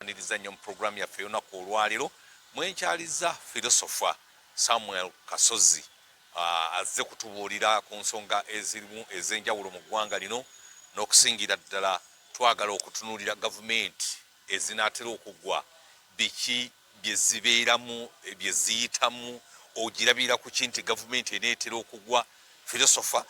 Mbaniriza nnyo mu pulogulaamu yaffe ey'olunaku olwaleero mwenkyaliza filosofa Samuel Kasozi uh, azze kutubuulira ku nsonga ezirimu ez'enjawulo mu ggwanga lino n'okusingira ddala twagala okutunuulira gavumenti ezinaatera okuggwa biki bye zibeeramu bye ziyitamu ogirabira ku ki nti gavumenti eneetera okuggwa filosofa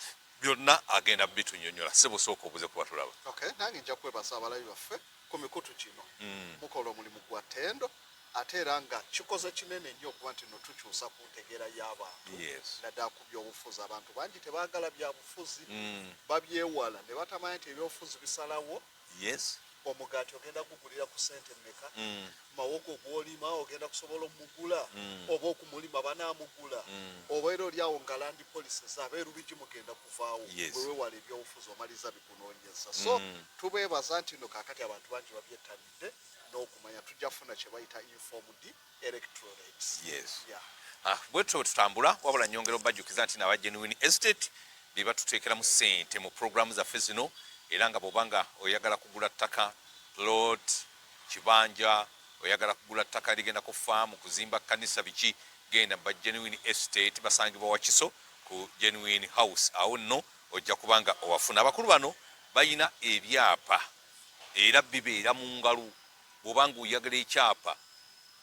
byonna agenda bitunyonyola sibusooka obuze kuba tulaba okay, nange nja kwebaza abalabi baffe ku mikutu gino mm. mukola omulimu gwa tendo ate era nga kikoze kinene nnyo okuba nti no tukyusa ku ntegeera y'abantu naddala ku byobufuzi abantu bangi tebaagala byabufuzi mm. babyewala ne batamanya nti ebyobufuzi bisalawo omugaati ogenda kugulira ku sente meka mm. mawogo gwolima ogenda kusobola omugula mm. oba okumulima banamugula oba era olyawo nga landi polisi zabeerubigi mugenda kuvaawo wewewala ebyobufuzi omaliza kunonyeza so mm. tubebaza nti no kakati abantu bangi babyetabidde n'okumanya tujja funa kyebayita informed electrorates yes. yeah. ah, bwetyo bwetutambula wabula nyongera obajukiza nti naba genuine estate bebatuteekeramu sente mu programu zaffe zino era nga bwobanga oyagala kugula ttaka lot kibanja oyagala kugula ttaka ligenda ku faamu kuzimba kanisa biki genda ba genuine estate basangibwa wakiso ku genuine house awo nno Ojja kuba nga owafuna. Abakulu bano balina ebyapa era bibeera mu ngalo. Bw'oba nga oyagala ekyapa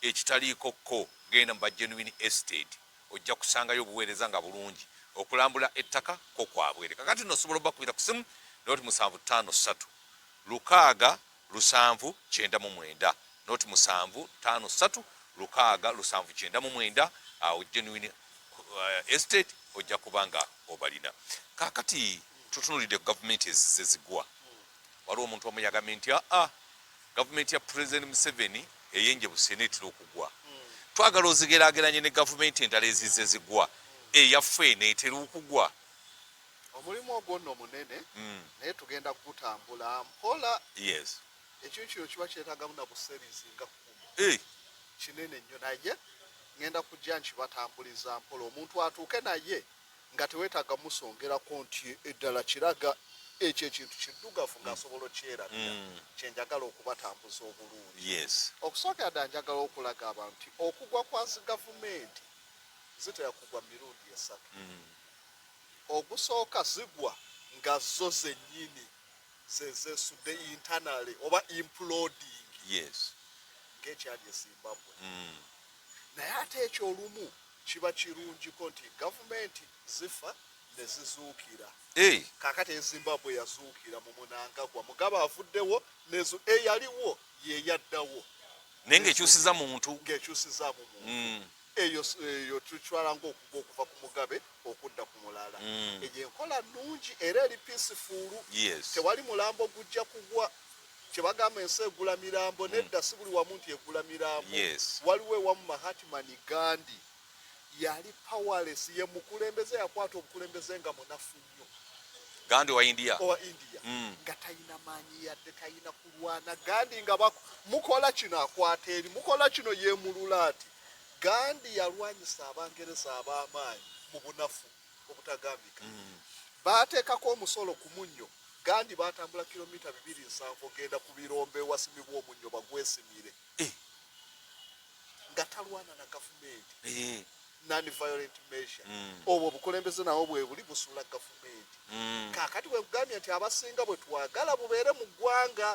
ekitaliiko kko, genda mu ba Genuine Estate. Ojja kusangayo obuweereza nga bulungi. Okulambula ettaka kko kwabwere. Kakati nno osobola obakubira ku simu, n'oti musanvu ttaano ssatu lukaaga. lusanvu kyenda mu mwenda not musanvu tano satu lukaaga lusanvu kyenda mu mwenda awo genuine uh, estate ojja kuba nga obalina kakati tutunulidde ku gavumenti ezize zigwa waliwo omuntu omu yagambe nti aa ah, ah, gavumenti ya president museveni eyenje busena etera okugwa twagala ozigerageranye ne gavumenti endala ezize zigwa eyaffe neetera okugwa omulimu ogwo nno munene mm. naye tugenda kugutambula mpola yes. ekintu kino kiba kyetagamu nabuserizi nga kumi hey. Eh. kinene nnyo naye ngenda kujja nkibatambuliza mpola omuntu atuuke naye nga tewetaga musongerako nti eddala kiraga ekyo ekintu kiddugavu ngaasobola okyerabira mm. kyenjagala okubatambuza obulungi yes. okusookera ddala njagala okulaga abantu nti okugwa kwazi gavumenti zitera kugwa mirundi esatu mm. ogusooka zigwa nga zo zennyini zezesudde internally oba imploding yes. ng'ekyali e Zimbabwe mm. naye ate ekyo olumu kiba kirungiko nti gavumenti zifa ne zizuukira hey. kakati ezimbabwe yazuukira mu munangagwa mugaba avuddewo nezo eyaliwo yeyaddawo naye ngaekyusiza muntu ngaekyusiza mu muntu mm. Eyo eyo tucwala ng'okugwa okuva ku mugabe okudda ku mulala. Mm. Eyo enkola nnungi era eri piisifuulu. Yes. Tewali mulambo gujja kugwa kyebagamba ensi egula mirambo mm. nedda si buli wamu nti egula mirambo yes. waliwo ewamu mahatmani gandi yali powerless ye mukulembeze yakwata obukulembeze nga munafu nnyo gandi owa india owa india mm. nga talina maanyi yadde talina kulwana gandi nga mukola kino akwata eri mukola kino yemulula ati Gandhi yalwanyisa Abangereza ab'amaanyi mu bunafu obutagambika. Mm. Baateekako omusolo ku munnyo. Gandhi baatambula kilomita bibiri nsanvu ogenda ku birombe ewasimibwa omunnyo bagwesimire eh. nga talwana na gavumenti eh. non-violent measure mm. obwo obukulembeze nawo bwebuli busula gavumenti mm. kakati bwekugambye nti abasinga bwetwagala bubeere mu ggwanga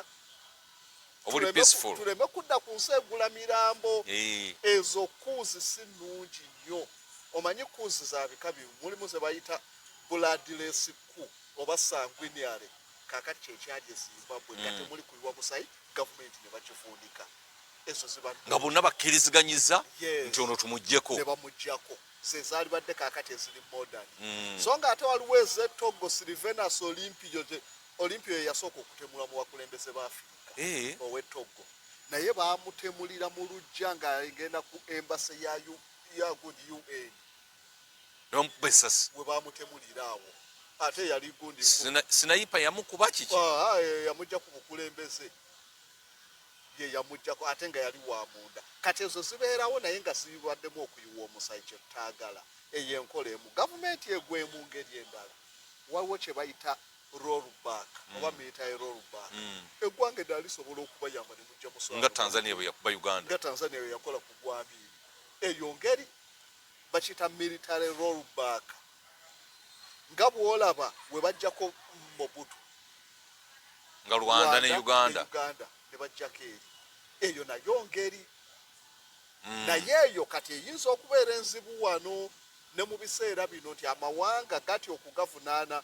obuli peaceful tuleme kudda ku nsi egula mirambo eh. ezo kuuzi si nnungi nnyo omanyi kuuzi za bika bimu mulimu ze bayita buladilesi ku oba sanguiniale kakati kyekyali ezimbabwe nga mm. temuli kuyiwa musayi gavumenti ne bakivuunika ezo ziba nga bonna bakkiriziganyiza nti ono tumugyeko ne bamugyako zezalibadde kakati eziri modern mm. so nga ate waliwo ezetoggo silivenus olimpio Olympio ye yasooka okutemulwa mu bakulembeze ba Afirika eh. ow'e Togo naye baamutemulira mu lujja ng'agenda ku embase ya good UN n'omukuba essasi we baamutemulira awo ate yali gundi sinayipa yamukuba kiki ah, ah, eh, yamujja ku bukulembeze ye yamujjako ate nga yali wa munda kati ezo zibeerawo naye nga zibaddemu okuyiwa omusayi kye tutaagala eyo enkola emu gavumenti egwemu ngeri endala waliwo kye bayita rollback oba hmm. meeta ya rollback hmm. eggwanga eddala lisobola okubayamba ne mujja muswala nga tanzania bwe yakuba uganda nga tanzania bwe yakola ku gwabiri eyo ngeri bakiyita military rollback nga bwolaba we bajjako mobutu nga rwanda ne uganda ne bajjako eri eyo nayo ngeri hmm. naye eyo kati eyinza okubeera enzibu wano ne mu biseera bino nti amawanga gati okugavunaana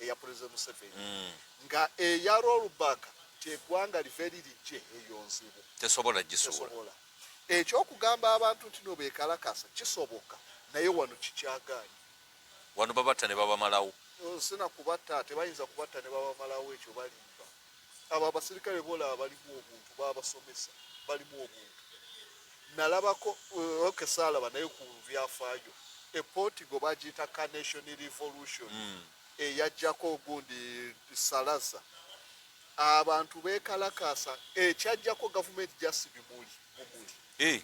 eya president Museveni mm. nga eya rollback tegwanga liveri lijje eyo nzibu tesobola gisobola ekyokugamba abantu nti no bekalakasa kisoboka naye wano kikyaganye wano babatta ne babamalawo oh, sina kubatta tebayinza kubatta ne babamalawo ekyo balimba abo abasirikale bolaba balimu obuntu babasomesa balimu obuntu nalabako eh, oke salaba naye ku byafaayo eportigo bagiyita carnation revolution mm. eyajjako ogundi salaza abantu bekalakasa ekyajjako gavumenti jasi bimuli mumuli eh.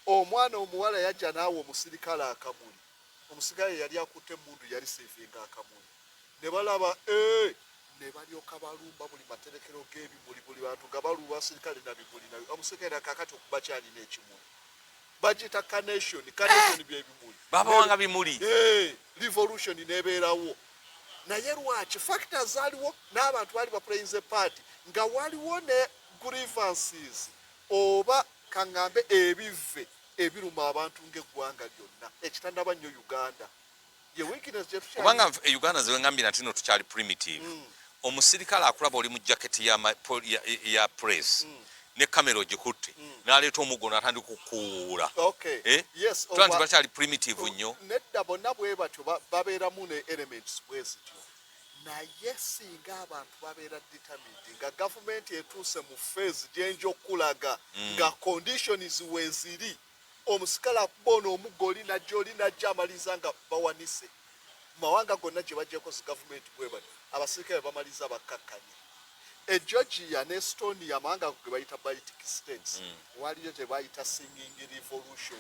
omwana omuwala yajja naawe omusirikale akamuli omusirikale yali akutte emundu yali sevinga akamuli ne balaba e, ne balyoka balumba buli materekero g'ebimuli, buli bantu nga baluwa sirikale na bimuli na omusirikale na kakati okuba kyalina ekimuli bagiyita carnation carnation eh! byebimuli babawanga bimuli eh, revolution nebeerawo naye lwaki factor zaaliwo n'abantu baali baplayinze party nga waliwo ne grievances oba kaŋŋambe ebivve ebiruma abantu ng'eggwanga lyonna ekitanaba nnyo uganda kubanga e uganda zewengambye nati no tukyali primitive mm. omusirikale akulaba oli mu jaketi ya, ya, ya press mm. ne kamera ogikutte mm. naleeta omuggo natandika okukuwuula okay. eh? yes, oh, tuba nti bakyali primitive oh, nnyo nedda bonna bwe batyo babeeramu ne elements bwezityo naye singa abantu babeera determined nga gavumenti etuuse mu feezi gyenja okukulaga mm. nga conditions weziri Omusikale akuba ono omuggo oli najja oli najja amaliriza nga bawanise. Mu mawanga gonna gye baggyeko zi gavumenti bwe batyo abasirikale bwe bamaliriza bakkakkanye. E Georgia ne Estonia amawanga ago ge bayita Baltic States mm. waliyo gye bayita Singing Revolution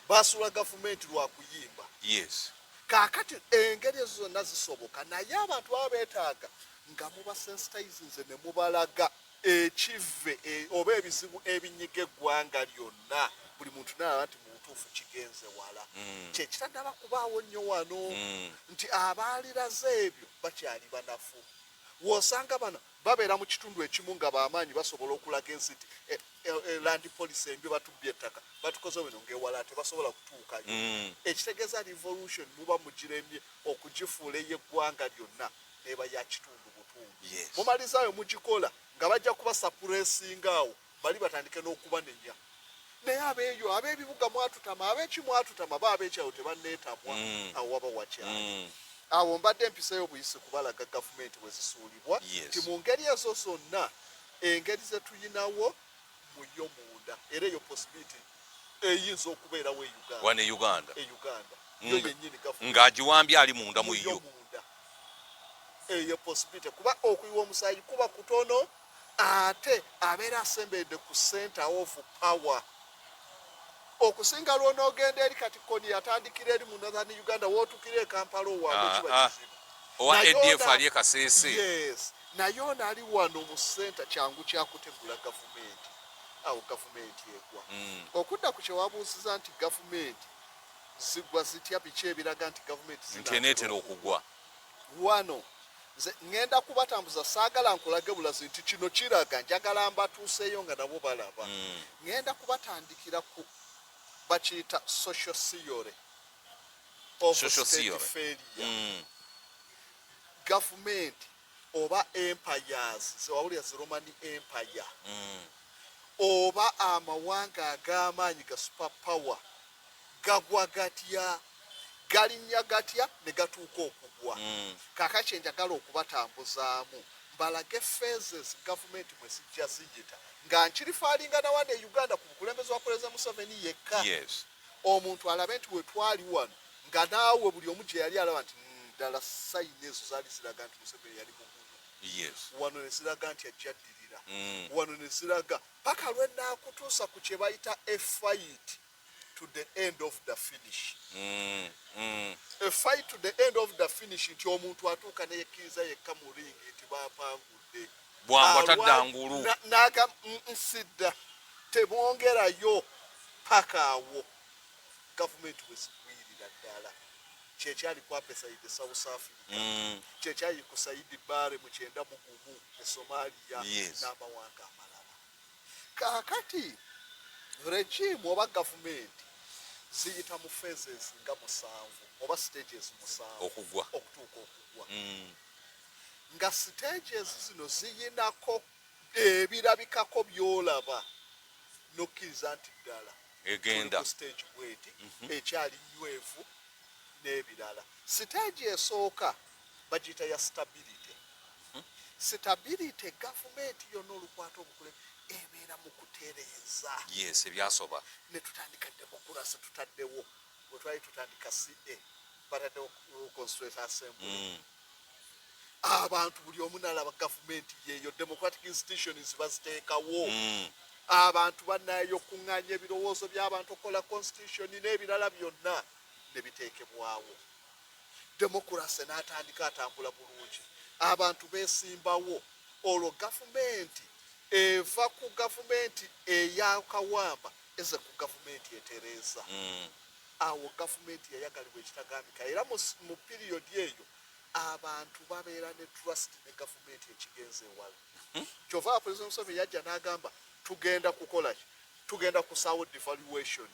baasuula gavumenti lwa kuyimba. Yes. Kaakati engeri ezo zonna zisoboka naye abantu baba beetaaga nga mubasensitizinze ne mubalaga ekivve e, oba ebizibu ebinyiga eggwanga lyonna buli muntu nalaba nti mubutuufu kigenze wala mm. kyekitanaba kubaawo nnyo wano mm. nti abaaliraze ebyo bakyali banafu wosanga bano babeera mu kitundu ekimu nga bamaanyi basobola okulaga ensi nti eh, eh, eh, landi polisi embi batubbye ettaka batukoze bino ngaewala tebasobola kutuukayo mm. ekitegeeza revolution muba mugiremye okugifuula ey'eggwanga lyonna eba ya kitundu butundu yes. mumalizaayo mugikola nga bajja kuba sapuresinga awo bali batandike n'okubanenya naye abeeyo ab'ebibuga mwatutama ab'eki mwatutama ba ab'ekyawo tebanneetamwa mm. awo waba wakyali mm. awo mbadde mpiseeyo buyisi kubalaga gavumenti bwe zisuulibwa yes. ti mu ngeri ezo zonna engeri ze tuyinawo mu yo munda era eyo possibility eyinza okubeerawo e Uganda wano e Uganda e Uganda yo yennyini gavumenti ng'agiwambye ali munda mu yo munda eyo possibility kuba okuyiwa omusaayi kuba kutono ate abeera asemberedde ku center of power okusinga lw'onoogenda eri kati koni yatandikira eri mu northern uganda wootukira e kampala owaabwe ah, kiba ah. kizibu owa adf ali ekasese yes naye ono ali wano mu senta kyangu kyakutegula gavumenti awo gavumenti egwa mm. okudda ku kyewabuuziza nti gavumenti zigwa zitya biki ebiraga nti gavumenti zinatera okugwa wano nze ŋŋenda kubatambuza saagala nkulage bulazi nti kino kiraga njagala mbatuuseeyo nga nabo balaba mm. ŋŋenda mm. kubatandikira ku bakiyita social theory of social state theory. failure mm. gavumenti oba empires zewawulira zi romani empire mm. oba amawanga ag'amaanyi ga super power gagwa gatya galinnya gatya ne gatuuka okugwa mm. kaka kye njagala okubatambuzaamu mbalage phases gavumenti mwe zijja ziyita nga nkirifaalinga nawa ne uganda ku bukulembeze wa pulezida museveni yekka yes. omuntu alabe nti wetwali wano nga naawe buli omu gye yali alaba nti ddala sayini ezo zaali ziraga nti museveni yali mugumu yes. wano ne ziraga nti ajjaddirira mm. wano ne ziraga paka lwenaakutuusa ku kyebayita a fight to the end of the finish mm, mm. a fight to the end of the finish nti omuntu atuuka neyekkiriza yekka mu ringi nti bapangudde bwangu atadda ngulu naga nsidda tebongerayo paka awo gavumenti wezigwirira ddala kyekyali kwapesaide south africa mm. kyekyali kusaidi bare mukyenda mugumu e somalia yes. n'amawanga amalala kakati regimu oba gavumenti ziyita mu phases nga musanvu oba stages musanvu okugwa okutuuka okugwa mm. nga stages zino ziyinako ebirabikako byolaba nokkiriza nti ddala egenda ku stage bweti mhm. ekyali nywevu n'ebirala stage esooka bagiyita ya stability mhm. stability gavumenti yonna olukwata obukule ebeera mu kutereeza yes ebyasoba ne tutandika demokurasi tutaddewo wetwali tutandika ca bataddewo constituent assembly mm. abantu buli omu nalaba gavumenti yeeyo democratic institutions baziteekawo mm. abantu banayo okuŋŋaanya ebirowoozo by'abantu okukola constitution n'ebirala byonna ne biteekebwawo demokurase n'atandika atambula bulungi abantu beesimbawo olwo gavumenti eva ku gavumenti eyakawamba eze ku gavumenti etereeza mm. Awo gavumenti yayagalibwa ekitagambika era mu mu piriyodi eyo abantu babeera ne trust ne gavumenti ekigenze ewala. Hmm? Kyova President Museveni yajja n'agamba tugenda kukola ki? Tugenda kusaawo devaluation.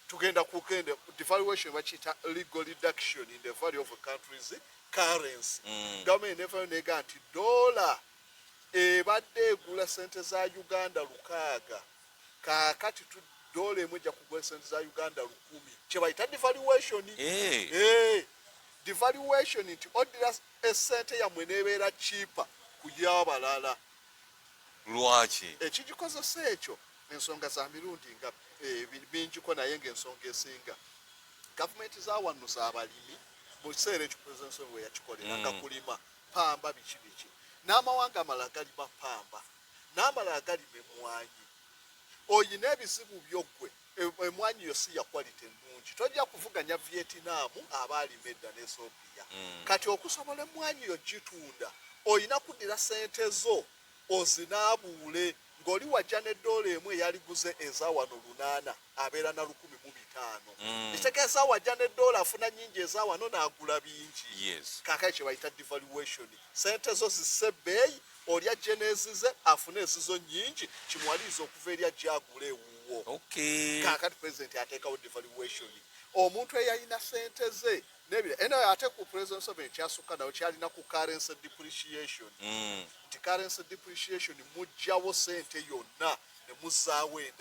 Tugenda kugenda devaluation bakiyita legal reduction in the value of a country's currency. Mm. Gavumenti nevayo neega nti doola ebadde egula sente za Uganda lukaaga kakati tu dola emu ejja kugwa sente za uganda lukumi kyebayita devaluation hey. Eh. Hey. Eh. devaluation nti oddira esente yammwe nebeera kiipa kuyabalala lwaki ekigikozesa ekyo ensonga za mirundi nga eh, bingiko naye ngaensonga esinga gavumenti zawanno zabalimi mu kiseera ekyo president we yakikolera nga mm. kulima pamba biki biki n'amawanga amalala galima pamba n'amalala galima emmwanyi oyina ebizibu byo ggwe emmwanyi yo si ya quality ennungi tojja kuvuganya vietinamu aba alima edda n'esopiya mm. kati okusobola emmwanyi yo gitunda oyina kuddira sente zo ozinaabuule ng'oli wajja ne doola emu eyaliguze eza wano lunaana abeera na lukumi mu bitaano mm. ekitegeeza wajja ne doola afuna nyingi ezawano n'agula bingi yes. kakale kye bayita devaluation sente zo zisse ebbeeyi olya jenezize afune ezizo nyingi kimuwaliriza okuva eri ajja agula ewuwo okay. kakati president ateekawo devaluation omuntu eyalina sente ze nebira eno ate ku president sobe ekyasukka nayo kyalina ku currency depreciation mm. nti currency depreciation mujjawo sente yonna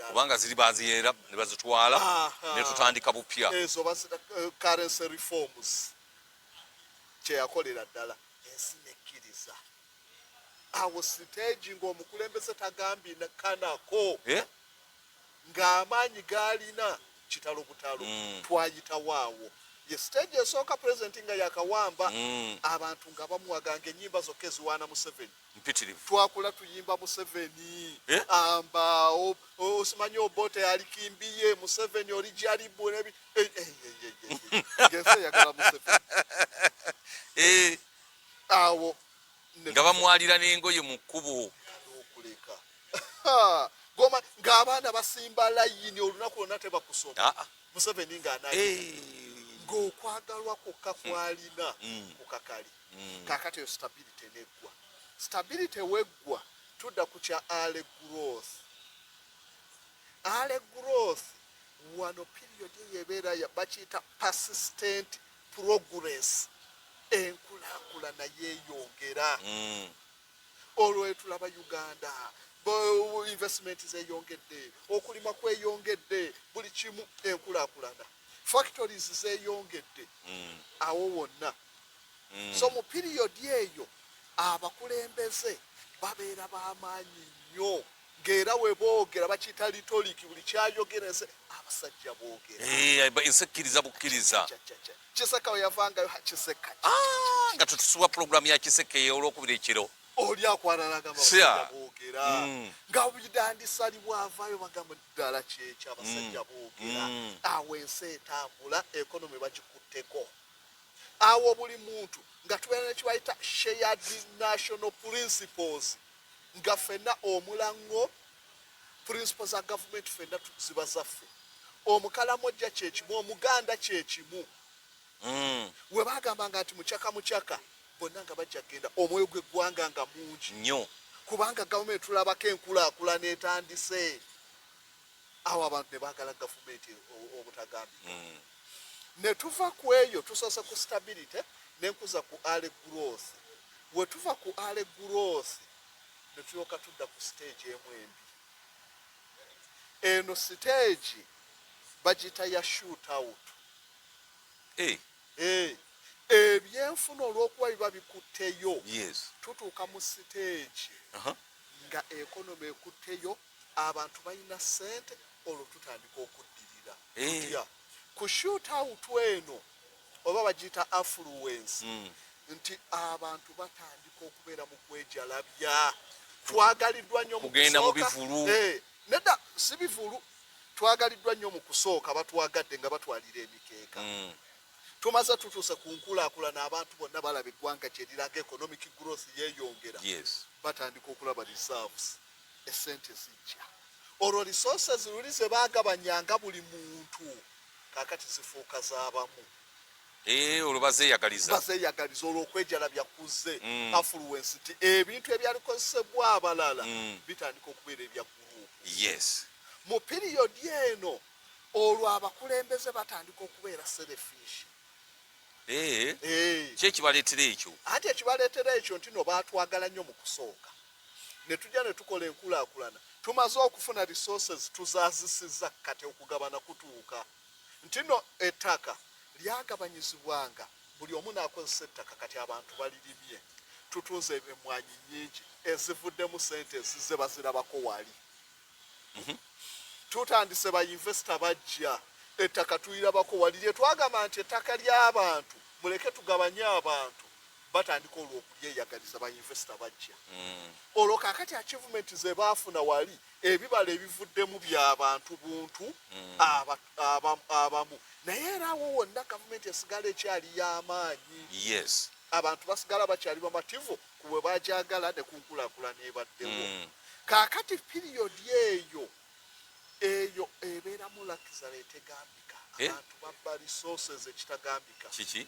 kubanga ziri baziyeera ne bazitwala ne tutandika bupya ezo bazita eh, currency reforms kyeyakolera ddala ensi nekkiriza awo siteegi ng'omukulembeze tagambye kanako eh? ng'amaanyi gaalina kitalo butalo mm. twayitawo awo ye siteegi esooka pulezidenti nga yakawamba mm. abantu nga bamuwaga ng'ennyimba zokka eziwaana museveni mpitirivu twakula tuyimba museveni eh? amba osimanyi obote yali kimbiye museveni oli jaribu eh, eh, ngensi eyagala museveni awo nga bamwalira n'engoye mu kkubo okuleka goma ng'abaana basimba layini olunaku lwonna tebakusoma ah, ah. museveni ng'anaye ng'okwagalwa kwokka kwalina mm. kukakali mm. kakati eyo stability neggwa stability weggwa tudda ku kya ale growth ale growth wano period eyo ebeera bakiyita persistent progress enkulakulana yeyongera mm. olwo etulaba uganda investment zeyongedde okulima kweyongedde buli kimu enkulakulana factories zeyongedde mm. awo wonna mm. so mu piriyodi eyo abakulembeze babeera bamaanyi nnyo ng'era we boogera bakiyita litoliki buli kyayogera ense abasajja boogera eh, ensi ekkiriza bukkiriza kiseka we yavangayo kiseka ah, nga tutusubwa pulogulaamu ya kiseka ey'olwokubiri ekiro oli akwanalaga abasajja boogera mm. nga bidandisa ali bwavayo bagamba ddala kyekyo abasajja mm. boogera awo ensi etambula ekonomi bakikutteko awo buli muntu nga tubeera nekibayita shared national principles nga fenna omulango principle za gavumenti fenna ziba zaffe omukalamojja kyekimu omuganda kyekimu mm. webagambanga nti mucaka mucaka bonna nga bajja kugenda omwoyo gweggwanga nga mungi nyo kubanga gavumenti tulabako enkulakulana etandise awo abantu ne baagala gavumenti obutagambika ne tuva ku eyo tusoose ku stability ne nkuza ku ale growth we tuva ku ale growth ne tulyoka tudda ku siteegi emu embi eno siteegi bagiyita ya shoot out eh. Eh. ebyenfuna olw'okuba biba bikutteyo tutuuka mu siteegi nga ekonomi ekutteyo abantu balina sente olwo tutandika okuddirira tutya eh. ku shoot out eno oba bagiyita affluence hmm. nti abantu batandika okubeera mu kwejalabya twagaliddwa nnyo kugenda mu bivulu eh, nedda si bivulu twagaliddwa nnyo mu kusooka batwagadde nga batwalira emikeeka hmm. tumaze tutuuse ku nkulaakulana abantu bonna balaba eggwanga kyeriraga economic growth yeyongera batandika okulaba reserves esente zijja olwo resources luli zebagabanyanga buli muntu kakati zifuuka zabamu eh, olwo bazeyagalizabazeyagaliza olwo okwejalabya kuze mm. affluence nti ebintu ebyalikozesebwa abalala mm. bitandika okubeera ebya gurupu yes mu piriyodi eno olwo abakulembeze batandika okubeera serefish eh. eh. kyekibaleetera ekyo anti ekibaleetera ekyo nti no batwagala nnyo mu kusooka ne tujja ne tukola enkulaakulana tumaze okufuna resources tuzaazisizza kati okugabana kutuuka nti no ettaka lyagabanyizibwanga buli omu n'akozesa ettaka kati abantu balirimye tutunze emwanyi nyingi ezivuddemu sente ezizze bazirabako wali mhm. tutandise ba investor bajja ettaka tulirabako wali lye twagamba nti ettaka ly'abantu muleke tugabanye abantu batandika olwo okulyeyagaliza ba investor bajja mm. olwo kakati achievement ze baafuna wali ebibala ebivuddemu by'abantu buntu mm. abamu naye era awo wonna gavumenti esigala ekyali y'amaanyi abantu basigala bakyali bamativu ku bwe bagyagala ne ku nkulaakulana ebaddewo mm. kaakati piriyodi eyo eyo ebeeramu lakizala etegambika eh? abantu babba resources ekitagambika kiki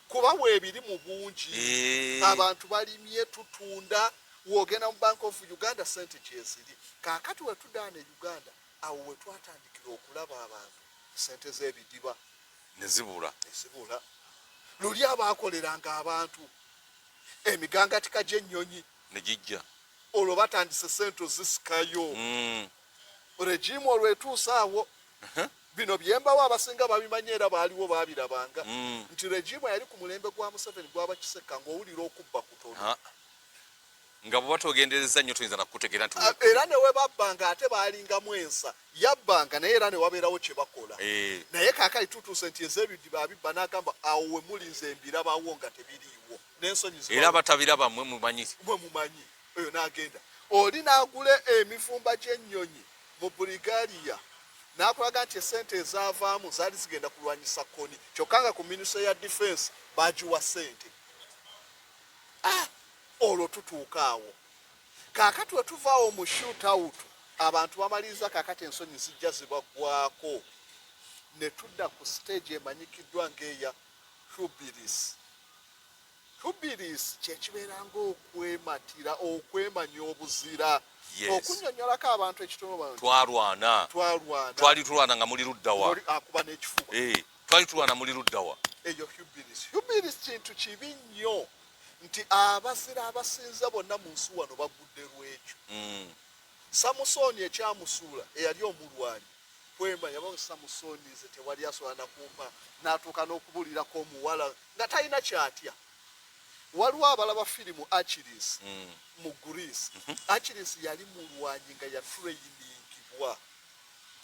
kuba weebiri mu bungi eh. abantu balimye tutunda wogenda mu bank of uganda sente gyeziri kaakati wetudaana e uganda awo wetwatandikira okulaba abantu sente z'ebidiba nezibula nezibula luli abaakoleranga abantu emigangatika gy'ennyonyi ne gijja olwo batandise sente ozisikayo mm. regimu olwo etuuse awo bino byembawo abasinga babimanye era baaliwo babirabanga mm. nti regimu yali ku mulembe gwa museveni gwaba kiseka ng'owulira okubba kutono nga bweba togendereza nnyo tuyinza nakukutegeera nti ah, era newebabbanga ate balingamu ensa yabbanga naye era newabeerawo kyebakola eh. naye kakali tutuuse nti ezebidiba abibba nagamba awo wemuli nze mbirabawo nga tebiriiwo nensonyi era batabiraba mwe mumanyi mwe mumanyi oyo nagenda oli nagula emivumba gyennyonyi mu burigaliya nakulaga nti esente ezavaamu zaali zigenda kulwanyisa koni kyokka nga ku minisa ya defense bagiwa sente ah, olwo tutuuka awo Kaakati bwe tuva awo mu shootout, abantu bamaliriza kaakati ensonyi zijja zibaggwaako ne tudda ku siteegi emanyikiddwa ng'eya Hrubilis. Hrubilis kye kibeera ng'okwematira, okwemanya obuzira. Okunnyonnyolako abantu ekitono bano. Twalwana. Twalwana. Twali tulwana nga muli ludda wa? Akuba n'ekifuba. Eh, twali tulwana muli ludda wa? Eyo Hrubilis. Hrubilis kintu kibi nnyo. nti abazira abasinza bonna mu nsi wano bagudde lwekyo mm. samusooni ekyamusuula eyali omulwanyi kwema yabawe samusooni nze tewali asobola nakumpa natuuka n'okubulirako omuwala nga talina kyatya waliwo abalaba firimu achiris mm. mu greece mhm. achiris yali mulwanyi nga yatreiningibwa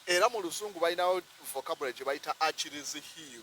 era mu luzungu balinawo vocabulary gye bayita achiris hill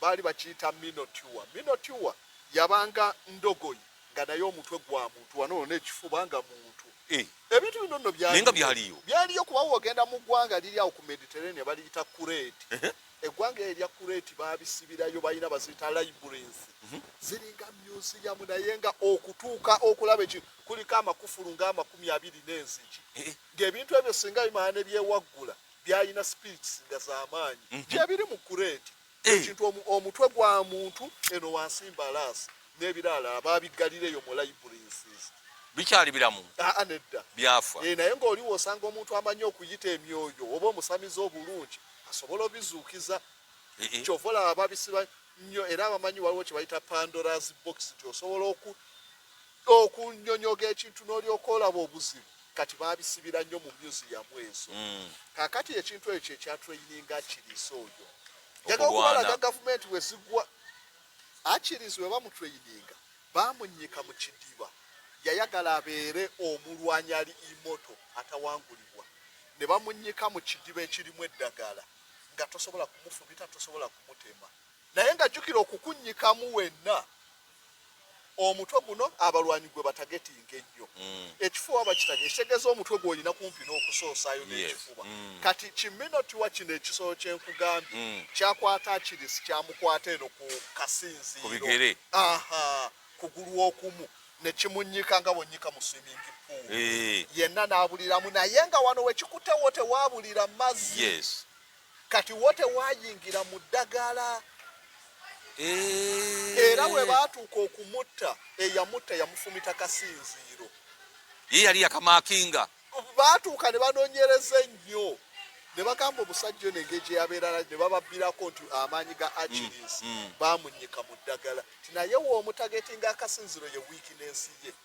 baali bakiyita minotiwa minotiwa yabanga ndogoyi nga naye omutwe gwa muntu wano ono ekifuba nga muntu eh. ebintu bino nno byaliyo byaliyo kuba wogenda mu ggwanga liri awo ku mediterranea baliyita kureti eggwanga eyo erya kureti babisibirayo balina baziyita librans mhm. ziringa museum naye nga okutuuka okulaba eki kuliko amakufulu nga amakumi abiri n'enzigi eh, eh. ng'ebintu ebyo singa bimala ne byewaggula byalina speeds nga zamaanyi mm -hmm. gyebiri mu kureeti eh. ekintu hey. omutwe gwa muntu eno wansi mbalaasi n'ebirala ababiggalira eyo mu libraries bikyali biramu aa ah, ah, nedda byafa e, naye ng'oliwo osanga omuntu amanyi okuyita emyoyo oba omusamiza obulungi asobola obizuukiza eh, eh. kyova olaba babisiba nnyo era abamanyi waliwo kye bayita pandora's box nti osobola oku okunyonyoga ekintu n'olyoka olaba obuzibu kati babisibira nnyo mu museum ezo mm. kakati ekintu ekyo ekyatraininga akiriisa oyo jaga okubalaga gavumenti wezigwa akirizi we bamutraininga bamunyika mu kidiba yayagala abeere omulwanyi ali imoto atawangulibwa ne bamunyika mu kidiba ekirimu eddagala nga tosobola kumufumita tosobola kumutema naye nga jjukira okukunyikamu wenna omutwe guno abalwanyi gwe batagetinga ennyo mm. ekifuba bakitage ekitegeza omutwe gwolina kumpi n'okusoosayo n'ekifuba mm. kati kiminotiwa kino ekisolo kyenkugambye mm. kyakwata akirisi kyamukwata eno ku kasinziiro kugulu okumu nekimunyika nga bonyika mu swimming pool eh. yenna n'abuliramu naye nga wano wekikutewo tewabulira mazzi kati wo tewayingira mu ddagala eh. era we baatuuka okumutta eyamutta yamufumita kasinziiro ye yali yakamakinga baatuuka ne banonyereza ennyo ne bagamba omusajja ono engeri gye yabeerala ne bababbirako nti amaanyi ga agilis mm, mm. baamunyika mu ddagala ti naye woomutageti nga akasinziro ye wiiki n'ensi ye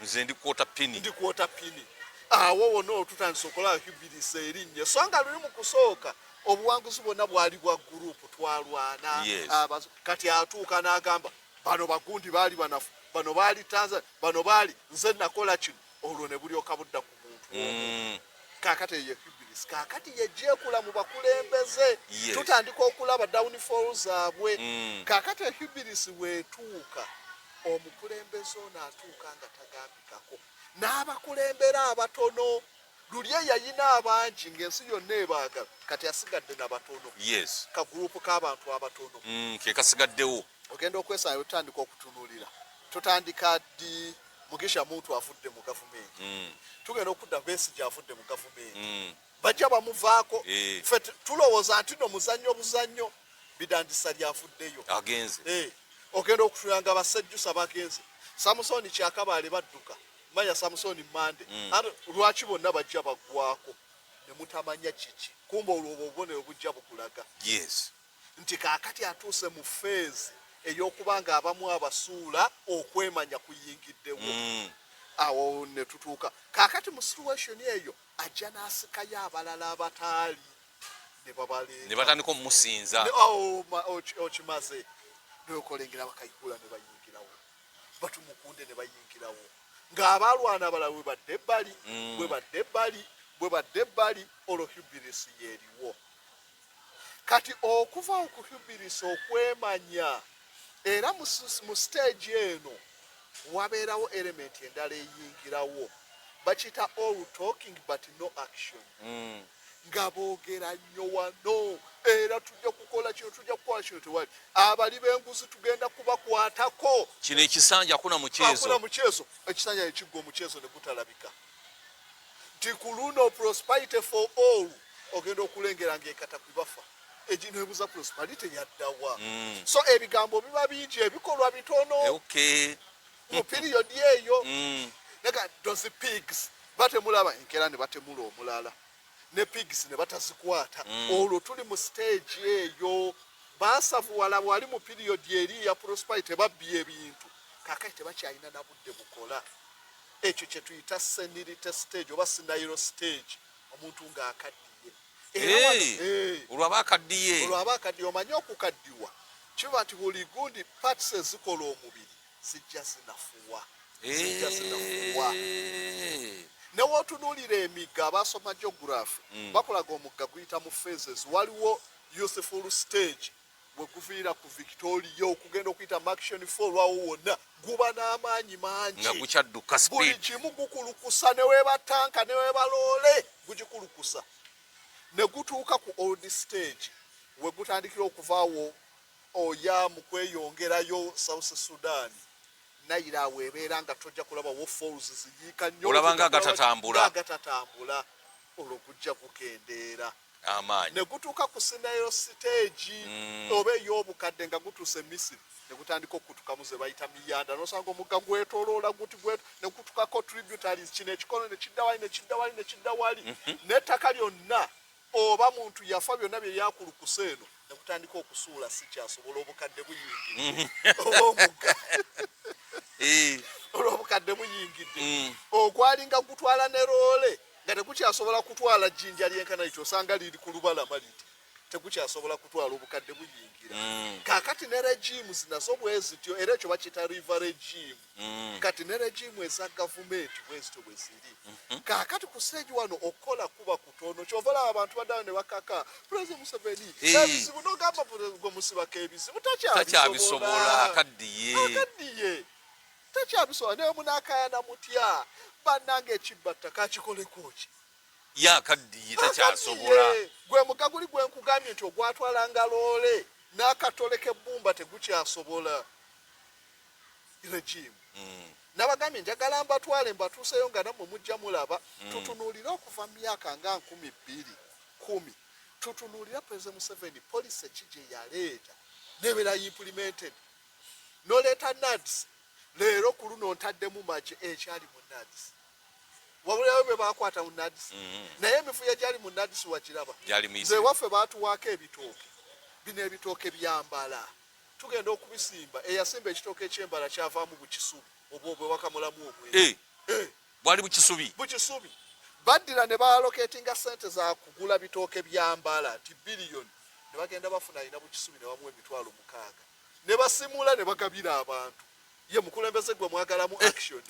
nze ndi quarter pini ndi quarter pini awo ah, wona otutandise okola hubirisa erinnya so nga luli mu kusooka obuwanguzi bwonna bwali bwa gurupu twalwana ah, kati atuuka n'agamba bano bagundi baali banafu bano baali tanzania bano baali nze nakola kino olwo ne bulyoka budda ku mm. kakati eyo hubris kakati yegyekula mu bakulembeze tutandika okulaba downfall zaabwe mm. kakati ehubris wetuuka omukulembeze ono atuuka nga tagambikako n'abakulembera abatono luli eyayina abangi ng'ensi yonna ebaagala kati asigadde na batono yes kagurupu k'abantu abatono mm, kekasiggaddewo ogenda okwesaayo otandika okutunulira tutandika ddi mugisha muntu avudde mu gavumenti mm. tugenda okudda besigi avudde mu gavumenti mm. bajja bamuvaako eh. fe tulowooza nti no muzannyo buzannyo bidandisa lyavuddeyo agenze eh. ogenda okutuyanga basajjusa bagenze samusoni kyakabaale badduka manya samusoni mande mm. lwaki bonna bajja baggwako ne mutamanya kiki kumba olwo obwo obubonero bujja bukulaga yes nti kaakati atuuse mu feezi ey'okuba ng'abamu abasuula okwemanya kuyingiddewo mm. awo ne tutuuka kaakati mu situweshoni eyo ajja n'asikayo abalala abataali ne babaleeta ne batandika omusinza oh, okimaze nokolengera bakayihula ne bayingirawo batumukunde ne bayingirawo ng'abaalwana abalala bwe badde ebbali mm. bwe badde ebbali bwe badde ebbali olwo hubirisi yeeriwo kati okuva okuhubirisa okwemanya era mu stage eno wabeerawo element endala eyingirawo bakiyita all talking but no action mm. nga boogera nnyo wano era tujja kukola kino tujja kukola kino tewali abali b'enguzi tugenda kubakwatako kino ekisanja kuna mukyezo ekisanja nekiggwa omukyezo ne gutalabika nti ku luno prosperity for all ogenda okulengera ng'ekata ku bafa egino ebuza prosperity yaddawa mm. so ebigambo biba bingi ebikolwa bitono eh, okay. mu period eyo mm. naga those pigs batemulaba enkera ne batemula omulala ne pigs ne batazikwata mm. olwo tuli mu stage eyo basavuwala wali mu period eri ya prosperity babbye ebintu kakati tebakyalina na budde bukola ekyo kye tuyita senilite stage oba sinayiro stage omuntu ng'akaddiye olwaba akaddiye olwaba akaddiye omanye okukaddiwa kiba nti buli gundi parts ezikola omubiri zijja zinafuwa zijja zinafuwa newotunuulira emigga abasoma geography mm. bakulaga omugga guyita mu phases waliwo useful stage weguviira ku victoria okugenda okuyita maction fo olwawo wonna guba n'amaanyi mangi nga gukyadduka buli kimu gukulukusa newebatanka newebaloole gugikulukusa ne gutuuka ku old stage we gutandikira okuvaawo oya mu kweyongerayo south sudan nayira awo ebeera nga tojja kulaba wo falls ziyiika nnyolabanga agatatambula agatatambula olwo gujja gukendeera amaanyi ne gutuuka ku sinayo siteegi mm. oba ey'obukadde nga gutuuse misiri ne gutandika okutukamu ze bayita miyanda nosanga omugga gwetoloola guti gwe ne gutukako tributaries kino ekikono ne kidda wali ne kidda wali ne kidda wali mhm. n'ettaka lyonna oba muntu yafa byonna bye byakulukusa eno ne gutandika okusuula sikyasobola obukadde buyingidde mhm. oba omugga olw'obukadde buyingidde mm. ogwalinga gutwala ne loole nga tegukyasobola kutwala jjinja lyenkana lityo osanga liri ku lubalama liti tegukyasobola kutwala obukadde buyingira mm. kakati ne regimu zinazo bwezityo era ekyo bakiyita riva regimu mm. kati ne regimu eza gavumenti bwezityo bwe ziri mm-hmm. kakati ku stage wano okukola kuba kutono kyova olaba abantu baddayo ne bakaka president museveni ebizibu nogamba gwe musibako ebizibu takyabisobola akaddiye Tekyabisobola naye munakayana mutya banange ekibba ttaka akikoleko ki? Ye akaddiye takyasobola. Gwe mugga guli gwe nkugambye nti ogwatwalanga loole n'akatole k'ebbumba tegukyasobola regimu. Mm. Nabagambye njagala mbatwale mbatuuseyo nga nammwe mujja mulaba. Mm. Tutunuulire okuva mu myaka nga nkumi bbiri kumi tutunuulira president museveni policy ki gye yaleeta nebeera implemented noleeta nads leero ku luno ntaddemu magi ekyali mu nads wabulayo bwe bakwata mu nads mm-hmm. naye emifuya gyali mu nads wakiraba nze waffe baatuwaako ebitooke bino ebitooke byambala tugenda okubisimba eyasimba ekitooke ekyembala kyavaamu bukisubi oba obwewakamulamu obwe eh, eh. bwali bukisubi bukisubi baddira ne baaloketinga sente za kugula bitooke byambala nti biliyoni ne bagenda bafuna alina bukisubi ne bamuwa emitwalo mukaaga ne basimula ne bagabira abantu ye mukulembeze gwe mwagalamu eh. action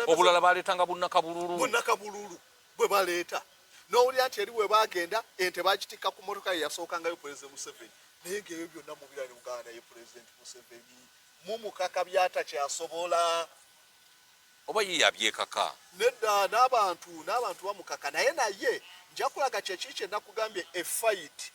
obulala baletanga bunakabululu bunakabululu bwe baleeta n'owulira nti eri we bagenda ente bagitikka ku motoka ye yasookangayo pulezidenti museveni naye ngaebyo byonna mubira ne muganda ye pulezidenti museveni mumukaka byatakyasobola oba ye yabyekaka nedda n'abantu n'abantu bamukaka naye naye njakulaga kyekiri kyenakugambye efayiti